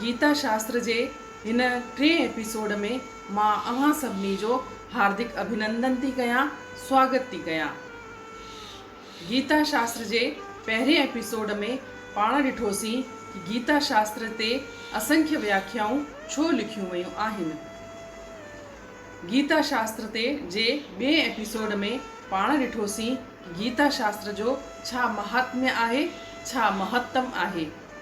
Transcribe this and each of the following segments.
گيتا شاستر جي هن ٽئين ايپيسوڊ ۾ مان اوهان سڀني جو هاردڪ اڀينندن ٿي ڪيان سواگت ٿي ڪيان گيتا شاستر جي پهرين ايپيسوڊ ۾ پاڻ ڏٺوسين ته گيتا شاستر تي اسنکيه وياکيائون ڇو لکيون ويون آهن گيتا شاستر تي جي ٻئين ايپيسوڊ ۾ پاڻ ڏٺوسين ته گيتا شاستر جو ڇا مهاتميه آهي ڇا مهتم آهي.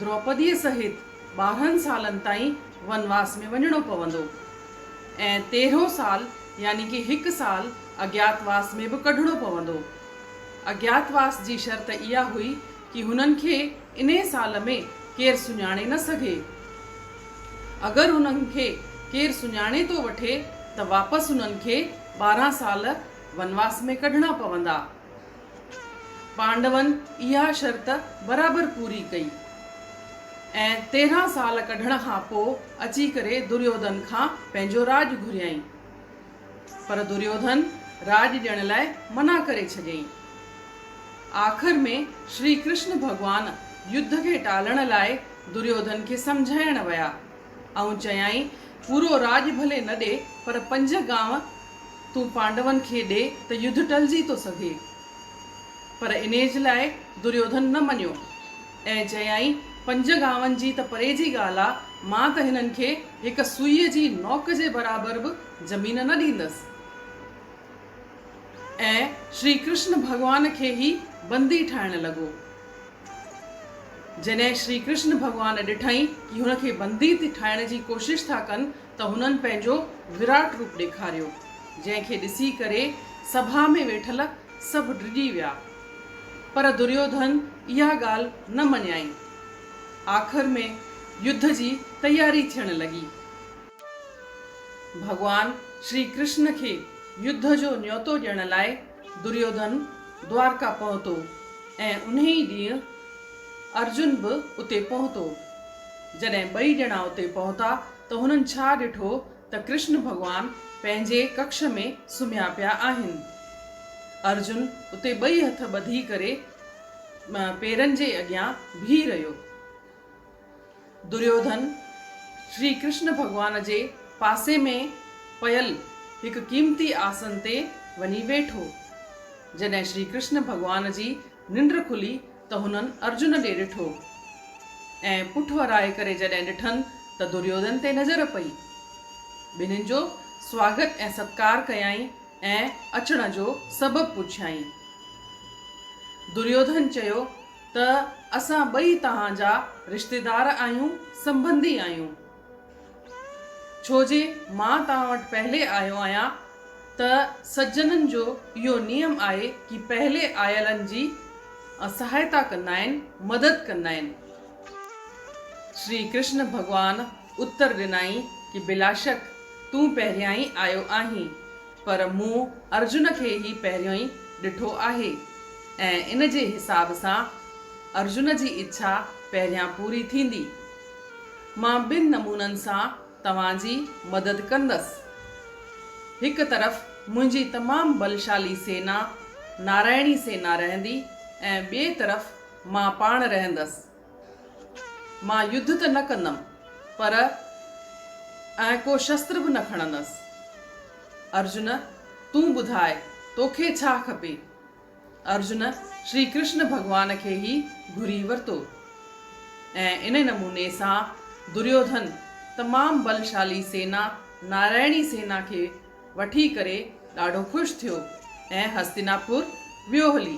دروپديء سهت ٻارهن سالن تائين ونواس ۾ وڃڻو پوندو ۽ تيرهون سال يعني ڪي هڪ سال اجياتواس ۾ به ڪڍڻو پوندو. اجياتواس جي شرط اها هئي ڪي هنن کي انهي سال ۾ ڪير سڃاڻي نه سگهي. اگر هنن کي ڪير سڃاڻي ٿو وٺي ته واپس هنن کي ٻارهن سال ونواس ۾ ڪڍڻا پوندا. پانڊون اها شرط برابر پوري ڪئي ۽ تيرهن سال ڪڍڻ کان پوء اچي ڪري دريوڌن کان پنهنجو راڄ گهريائين. پر دريوڌن راڄ ڏيڻ لاء منع ڪري ڇڏيائين. آخر ۾ شري ڪرشن ڀڳوان يڌ کي ٽالڻ لاء دريوڌن کي سمجهائڻ ويا ۽ چيائين پورو راڄ ڀلي نه ڏي پر پنج گانء تون پانڊون کي ڏي ته يڌ ٽلجي ٿو سگهي. پر انهيج لاء دريوڌن نه مڃيو ۽ چيائين پنج گاون جي ته پري جي ڳالهه آ، مان ته هنن کي هڪ سوئيء جي نوڪ جي برابر به زمين نه ڏيندس. ۽ شري ڪرشن ڀڳوان کي ئي بندي ٺاهڻ لڳو. جڏهن شري ڪرشن ڀڳوان ڏٺائين ڪي هن کي بندي ٺاهڻ جي ڪوشش ٿا ڪن ته هنن پنهنجو وراٽ روپ ڏيکاريو، جنهن کي ڏسي ڪري سڀا ۾ ويٺل سڀ ڊڄي ويا. پر دريوڌن اها ڳالهه نه مڃيائين. آخر ۾ يڌ جي تياري ٿيڻ لڳي. ڀڳوان شري ڪرشن کي يڌ جو نيوتو ڏيڻ لاء دريوڌن دوارڪا پهتو ۽ انهي ئي ڏينهن ارجن به اتي پهتو. جڏهن ٻئي ڄڻا اتي پهتا ته هنن ڇا ڏٺو ته ڪرشن ڀڳوان پنهنجي ڪکش ۾ سمهيا پيا آهن. ارجن اتي ٻئي هٿ ٻڌي ڪري پيرن جي اڳيان بيهي رهيو. دريوڌن، شري ڪرشن ڀڳوان جي پاسي ۾ پيل هڪ قيمتي آسن تي وڃي ويٺو. جڏهن شري ڪرشن ڀڳوان جي ننڊ کلي ته هنن ارجن ڏي ڏٺو ۽ پٺ ورائي ڪري جڏهن ڏٺن ته دريوڌن تي نظر پئي. ٻنهين جو سواگت ۽ ستڪار ڪيائين ۽ اچڻ جو سبب پڇيائين. دريوڌن چيو. ته اسان ٻئي توهان جا رشتيدار آهيون، سنبنڌي آهيون. ڇو جي مان توهان وٽ پهلي آيو آهيان ته سجنن جو اهو نيم آهي ڪي پهلي آيلن جي سهائتا ڪندا آهن، مدد ڪندا آهن. شري ڪرشن ڀڳوان اتر ڏنائين ڪي بلاشڪ تون پهريائين آيو آهين. پر مون ارجن کي هي پهريون ڏٺو آهي ۽ ان جي حساب سان ارجن جي اڇا پهريان پوري ٿيندي. مان ٻن نمونن سان توهان جي مدد ڪندس. هڪ طرف منهنجي تمام بلشالي سينا، نارائڻي سينا رهندي ۽ ٻئي طرف مان پاڻ رهندس. مان يڌ ته نه ڪندم پر ۽ ڪو شستر به نه کڻندس. ارجن تون ٻڌاء توکي ڇا کپي؟ ارجن شري ڪرشن ڀڳوان کي ئي گهري ورتو ۽ انهي نموني سان دريوڌن تمام بلشالي سينا نارائڻي سينا کي وٺي ڪري ڏاڍو خوش ٿيو ۽ هستيناپور ويو هلي.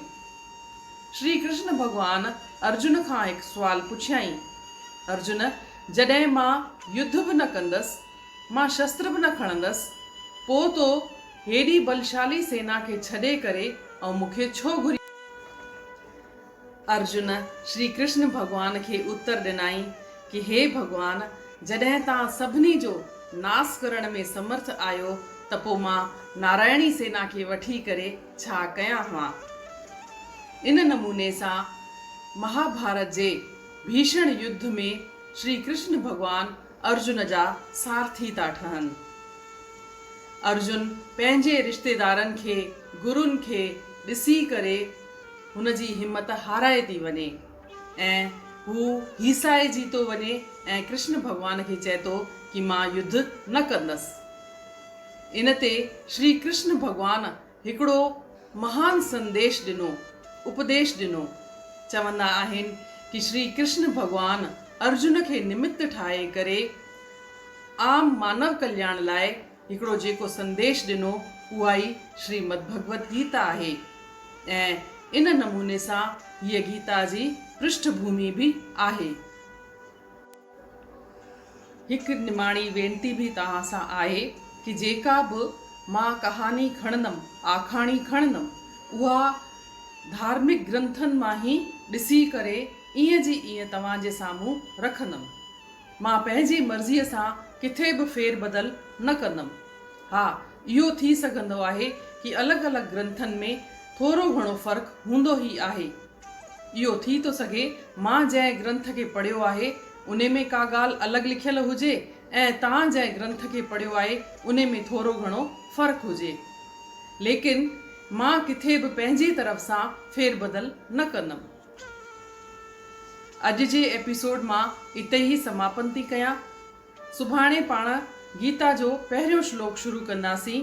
شري ڪرشن ڀڳوان ارجن کان هڪ سوال پڇيائين، ارجن جڏهن مان يڌ به نه ڪندس، مان شستر به نه کڻندس، پوء تو هيڏي بلشالي سينا کي ڇڏي ڪري ۽ مون کي ڇو گهريو؟ ارجن شري ڪرشن ڀڳوان کي اتر ڏنائين ڪي هي ڀڳوان جڏهن توهان سڀني جو ناس ڪرڻ ۾ سمرٿ آهيو ته پو مان نارائڻي سينا کي وٺي ڪري ڇا ڪيان ها؟ ان نموني سان مهاڀارت جي ڀيشڻ يڌ ۾ شري ڪرشن ڀڳوان ارجن جا سارٿي ٿا ٺهن. ارجن پنهنجي رشتيدارن کي، گرون کي ڏسي ڪري هن جي همت هارائي ٿي وڃي ۽ هو هيسائجي ٿو وڃي ۽ ڪرشن ڀڳوان کي چئي ٿو ڪي مان يڌ نه ڪندس. ان تي شري ڪرشن ڀڳوان. هڪڙو مهان سنديش ڏنو، اپديش ڏنو. چوندا آهن ڪي شري ڪرشن ڀڳوان ارجن کي نمت ٺاهي ڪري عام مانو ڪلياڻ لاء هڪڙو جيڪو سنديش ڏنو اها ئي شري مد ڀڳوت گيتا آهي ۽ ان نموني سان هيء گيتا جي پرشٺ ڀومي به آهي. هڪ نماڻي وينتي به توهان سان آهي ڪي جيڪا به مان ڪهاڻي کڻندم، آکاڻي کڻندم، اها ڌارمڪ گرنٿن مان هي ڏسي ڪري ايئن جي ايئن توهان جي سامهون رکندم. مان پنهنجي مرضيء سان ڪٿي به ڦير بدل نه ڪندم. ها اهو ٿي سگهندو آهي ڪي الڳ الڳ گرنٿن ۾ ٿورو گهڻو فرق هوندو هي آهي. اهو ٿي ٿو سگهي مان جنهن گرنٿ کي پڙهيو آهي انهي ۾ ڪا ڳالهه الڳ لکيل هجي ۽ توهان جنهن گرنٿ کي پڙهيو آهي انهي ۾ ٿورو گهڻو فرق هجي. ليڪن مان ڪٿي به پنهنجي طرف سان ڦير بدل نه ڪندم. اڄ جي ايپيسوڊ مان اتي ئي سماپن ٿي ڪيان. سڀاڻي پاڻ گيتا جو پهريون شلوڪ شروع ڪنداسين.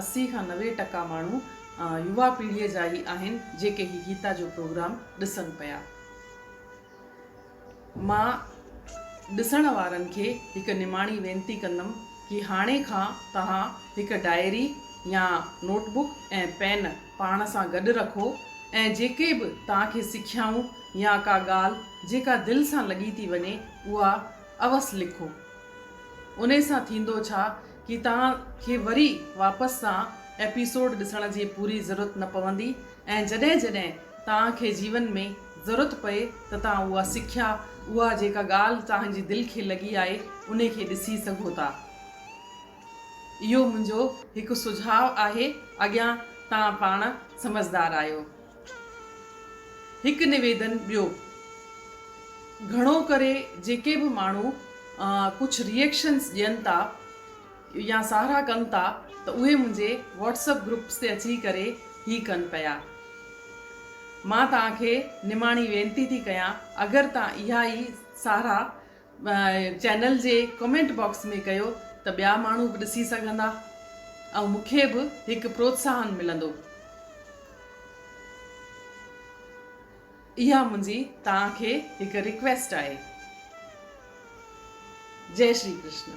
اسي کان نوي ٽڪا ماڻهو يوا پيڙهيء جا ئي آهن جيڪي هي گيتا جو پروگرام ڏسن پيا. مان ڏسڻ وارن کي هڪ نماڻي وينتي ڪندم ڪي هاڻي کان توهان هڪ ڊائري يا نوٽ بڪ ۽ پين پاڻ سان گڏ رکو ۽ جيڪي به توهان کي سکيائون يا ڪا ڳالهه جيڪا دل سان لڳي ٿي وڃي اها اوس لکو. انهي سان ٿيندو ڇا ڪي توهان کي وري واپس سان ايپيسوڊ ڏسڻ جي پوري ضرورت نه پوندي ۽ جڏهن جڏهن توهان کي جيون ۾ ضرورت پئي ته توهان اها سکيا اها جيڪا ڳالهه توهان جي دل کي لڳي آهي انهي کي ڏسي سگهو ٿا اهو منهنجو هڪ سجهاء آهي اڳيان توهان پاڻ سمجهدار آهيو. هڪ نويدن ٻيو. گهڻو ڪري جيڪي به ماڻهو ڪجهه ريئڪشنس ڏين ٿا يا ساراهه ڪن ٿا ته اهي منهنجي واٽس اپ گروپس تي اچي ڪري هي ڪن پيا. مان توهان کي نماڻي وينتي ٿي ڪيان اگر توهان اها ئي ساراهه چينل جي ڪمينٽ باڪس ۾ ڪيو ته ٻيا ماڻهو به ڏسي سگهندا ۽ مون کي به هڪ پروتساهن ملندو اها منهنجي توهان کي هڪ ريڪويسٽ آهي جئي شري ڪرشنا.